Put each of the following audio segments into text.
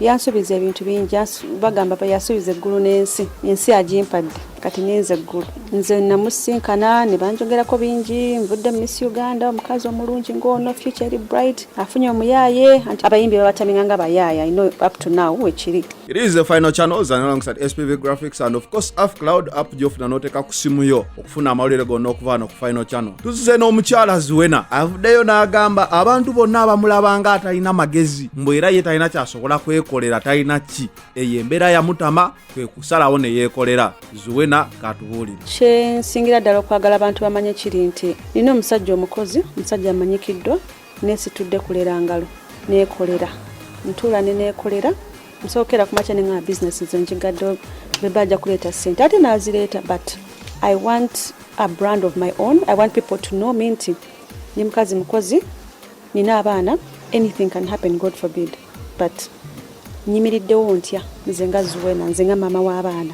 yansubiza ebintu bingi bagamba yasubiza eggulu n'ensi ensi agimpadde kati ninze eggulu nze namusinkana ne banjogerako bingi nvudde mu miss uganda omukazi omulungi ng'ono future eri bright afunye omuyaaye anti abayimbi babatamina nga bayaaya ino up to now wekiri It is the final channels and alongside SPV graphics and of course Afcloud app gyofuna n'oteeka ku simu yo funa amawulire gonna okuva wano ku final channel tuzize n'omukyala ziwena avuddeyo n'agamba abantu bonna abamulaba nga atalina magezi mbu era ye talina kyasobola kwekolera talina ki eyo embeera yamutama kwe kusalawo ne yeekolera ziwena katubuulire kyensingira ddala okwagala abantu bamanye kiri nti nina omusajja omukozi omusajja amanyikiddwa Nesitudde kulera ngalo nekolera ntuula ne nekolera nsookera ku makya nengamba bizinesi nze njigadde beba ajja kuleeta ssente ate nazireeta but i want a brand of my own i want people to know me nti ni mukazi mukozi nina abaana anything can happen god forbid but nyimiriddewo ntya nze nga zuwena nze nga maama w'abaana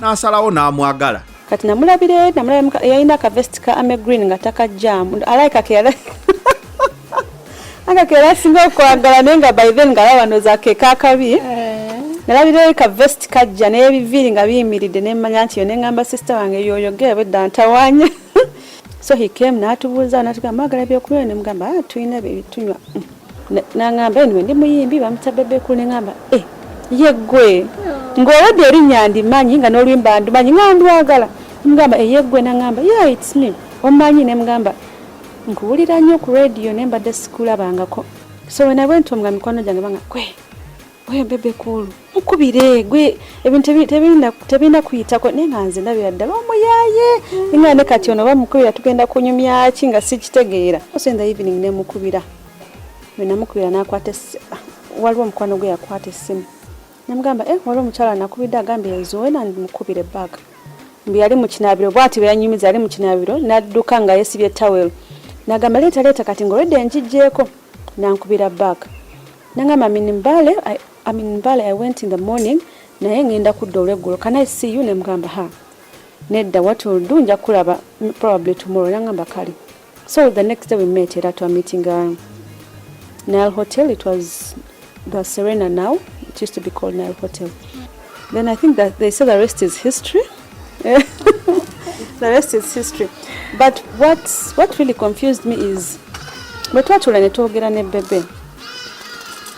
n'asalawo n'amwagala kati namulabire namulabira yalina akavesti ka ame green nga takajjaamu alaika keyala anga keyala asinga okwagala naye nga by then ngalaba noza keka akabi eh. nalabira ka vesti kajja n'ebiviiri nga biyimiridde nemmanya nti yo nengamba sisita wange yoyogera bwedda ntawanya so he came natubuuza natugamba agala byokunywa nemugamba ah, tulina bebitunywa nangamba enwe ndi muyimbi bamuta bebekulu nengamba e eh, yeggwe ng'olwadde erinnya ndimanyi nga n'oluyimba ndumanyi nga ndwagala mugamba eyeggwe eh, nangamba ya its me omanyi ne mugamba nkuwulira nnyo ku radiyo ne mbadde sikulabangako so wenabwe nti omugamba mikwano gyange banga kwe oyo bebe kuulu mukubire gwe ebintu tebirina kuyitako naye nga nze ndabira ddala omuyaye nga ne kati ono bamukubira tugenda kunyumyaki nga sikitegeera ose the evening nemukubira wenamukubira nakwata waliwo omukwano gwe yakwata essimu namugamba e eh, waliwo omukyala nakubidde agambye nzowe namukubire bag mbu yali mukinabiro bwati beyanyumiza yali mukinabiro nadduka nga yesibye tawel nagamba leeta leeta kati ngaolwedde enjigyeko nankubira bag nangamba amin mbale amin mbale i went in the morning naye ngenda kudda olweggulo can i see you nemugamba ha nedda what will do nja kulaba probably tomorrow nangamba kale so the next day we met era twa meeting uh, nile hotel it was the serena now it used to be called nile hotel then i think that they say the rest is history the rest is history but what, what really confused me is bwe twatula ne twogera ne bebe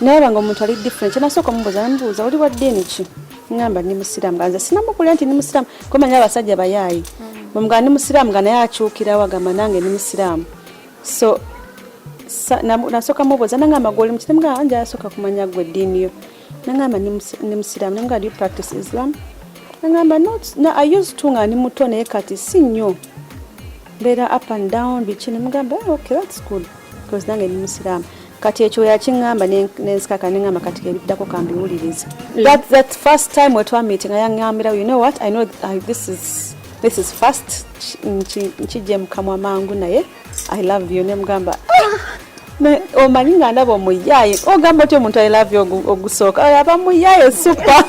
nayeba nga omuntu ali different kyenasooka omubuuza namubuuza oli wa ddiini ki ngamba ndi musiraamu ganze sinamukulira nti ndi musiraamu kumanya abasajja bayaayi bwemugaa ndi musiraamu nga naye akyukirawo agamba nange ndi musiraamu so nasooka mubuuza nangamba gwe oli mukiremu gamba nja yasooka kumanya gwe eddiini yo nangamba ndi musiraamu nangamba do you practice islam nangamba no, i used to nga ndi muto naye kati si nnyo mbeera up and down biki nemugamba oh, okay that's good because nange ndi musiraamu kati ekyo yakiŋamba nenzikaka neŋamba kati kebiddako kambiwuliriza mm. that, that first time wetwamitinga yaŋambira you know what i know uh, this is this is fast nkijje mukamwa mangu naye I love you nemugamba ah, omanyi nga ndaba omuyaaye ogamba otya omuntu i love you ogusooka oyo aba muyaaye supa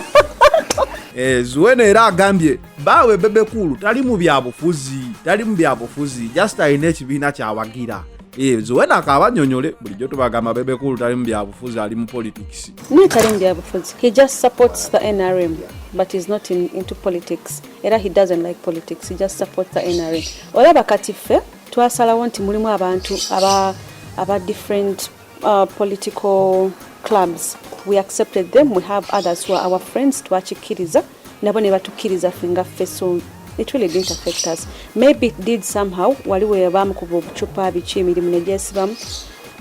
eh, zuwena era agambye baawe bebekuulu tali mu byabufuzi tali mu byabufuzi just alina ekibiina kyawagira eh, zuwena akabanyonyole bulijjo tubagamba bebekuulu tali mu byabufuzi ali mu politics naye tali mu byabufuzi he just supports the nrm but is not in, into politics era he doesn't like politics he just supports the NRA olaba kati ffe twasalawo nti mulimu abantu aba aba different uh, political clubs we accepted them we have others who are our friends twakikkiriza nabo ne batukkiriza ffe nga ffe so it really didn't affect us maybe it did somehow wali we bamukuba obucupa biki emirimu negyesibamu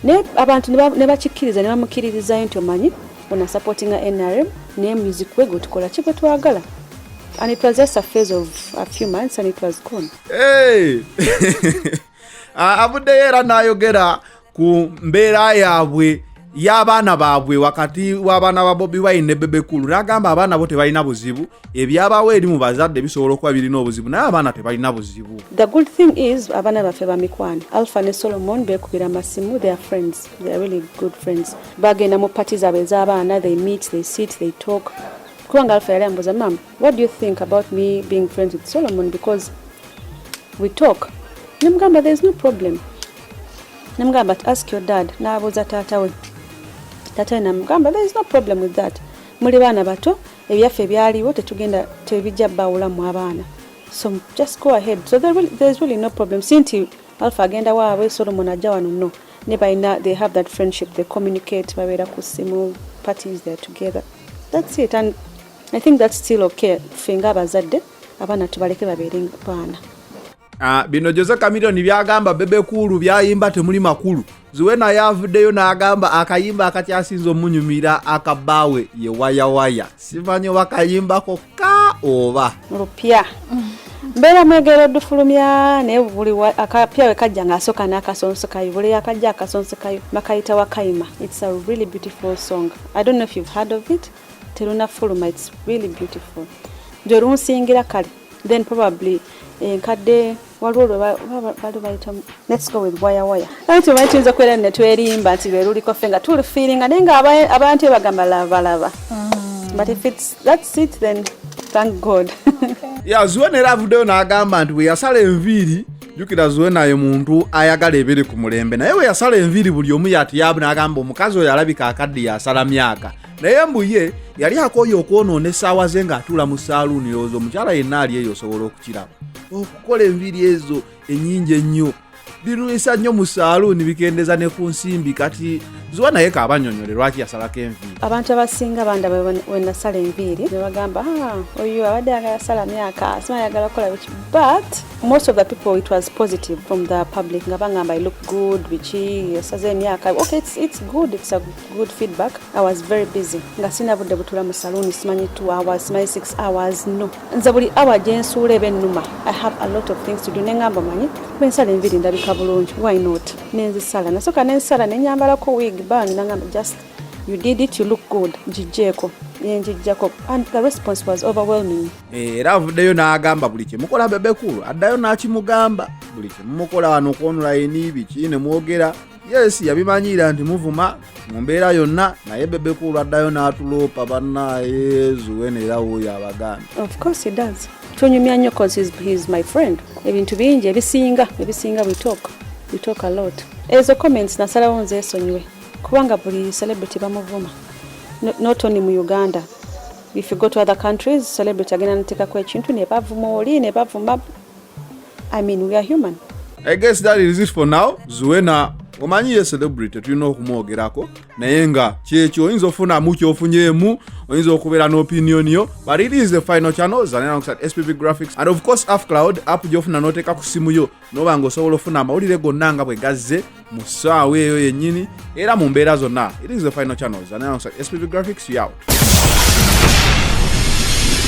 naye abantu ne bakikkiriza ne bamukkiririzayo nti omanyi ono asupportinga nrm naye music we gwetukola ki gwe twagala and it was just a phase of a few months and it was gone hey! avuddeyo era n'ayogera ku mbeera yaabwe y'abaana baabwe wakati w'abaana ba bobi wine ne bebe kulu n'agamba abaana bo tebalina buzibu ebyabawo eri mu bazadde bisobola okuba birina obuzibu naye abaana tebalina buzibu the good thing is abaana baffe bamikwano alpha ne solomon beekubira amasimu their friends their really good friends bagenda mu pati zaabwe ez'abaana they meet they sit they talk kubanga alfa yali ambuuza mam what do you think about me being friends with solomon because we talk nemugamba there is no problem nemugamba ti ask your dad n'abuuza taata we taata we namugamba there is no problem with that muli baana bato ebyaffe byaliwo tetugenda tebijja bawulamu abaana so just go ahead so there, there is really no problem si nti alfa agenda waabwe solomon ajja wano no ne balina they have that friendship they communicate babeera ku simu parties they're together that's it and i think that's still okay ffe nga abazadde abaana tubaleke babeere baana ah, bino jose camilion byagamba bebe kuulu byayimba temuli makulu ziwe naye avuddeyo n'agamba akayimba akakyasinza omunyumira akabbaawe ye wayawaya simanyi oba kayimbako ka oba lupya mbeera mwegera odufulumya naye buli akapya we kajja ng'asooka n'akasonso kayo buli yakajja akasonso kayo bakayita wakayima it's a really beautiful song i don't know if you've heard of it terunafuluma it's really beautiful gye lunsingira kale then probably enkadde eh, waliwo lwebali bayita let's go with waya waya kati omanyi tuyinza okubeera ne twerimba nti lweluliko ffe nga tulifiiringa naye nga abantu ebagamba labalaba mm. but if it's that's it then thank god ya zuwena era avuddeyo n'agamba nti bwe yasala enviiri jukira zuwena ye muntu ayagala ebiri ku mulembe naye bwe yasala enviiri buli omu yati yabu n'agamba omukazi oyo alabika akadde yasala myaka naye mbu ye yali akooye okwonoona essaawa ze ng'atuula mu saaluuni yooza omukyala yenna ali eyo osobola okukiraba okukola enviri ezo enyingi ennyo birwisa nnyo mu saaluuni bikendeza ne ku nsimbi kati zuba naye kaabanyonyole lwaki yasalako enviiri abantu abasinga bandaba wenasala enviiri nebagamba ah, oyo abadde ayagala sala myaka sima ayagala kukola biki but most of the people it was positive from the public nga bangamba i look good biki esaza emyaka okay it's, it's good it's a good feedback i was very busy nga sina budde butula mu saloon simanyi 2 hours simanyi 6 hours no nze buli awa gyensuula ebe ennuma i have a lot of things to do nengamba manyi bwensala enviri ndabika bulungi why not nenzisala nasoka nensala nenyambalako wig ban nangamba just you did it you look good njijjeeko yenjijjako and the response was overwhelming eh, era avuddeyo n'agamba buli kyemukola bebekulu addayo n'akimugamba buli kyemumukola wano okwonula yeniibiki ne mwogera yes yabimanyiira nti muvuma mu mbeera yonna naye bebe kuulu addayo n'atuloopa bannaye zuwena era wuuyo abaganda tunyumya nnyo his my friend ebintu bingi ebisinga ebisinga we talk we talk a lot ezo comments nasalawo nze esonyiwe kubanga buli celebrity bamuvuma not only mu uganda if you go to other countries celebrity agenda nateekako ekintu nebavuma oli nebavuma I mean, we are human. I guess that is it for now. Zuena omanyi ye celebrity tulina okumwogerako naye nga kyekyo oyinza ofunamu kyofunyeemu oyinza okubeera n'opinion yo but it is the final channel zanenankusat spp graphics and of course app cloud app gyofuna noteeka ku simu yo noba nga osobola ofuna amawulire gonna nga bwe gazze mu ssaawa eyo yennyini era mu mbeera zonna it is the final channel zanenankusat spp graphics you out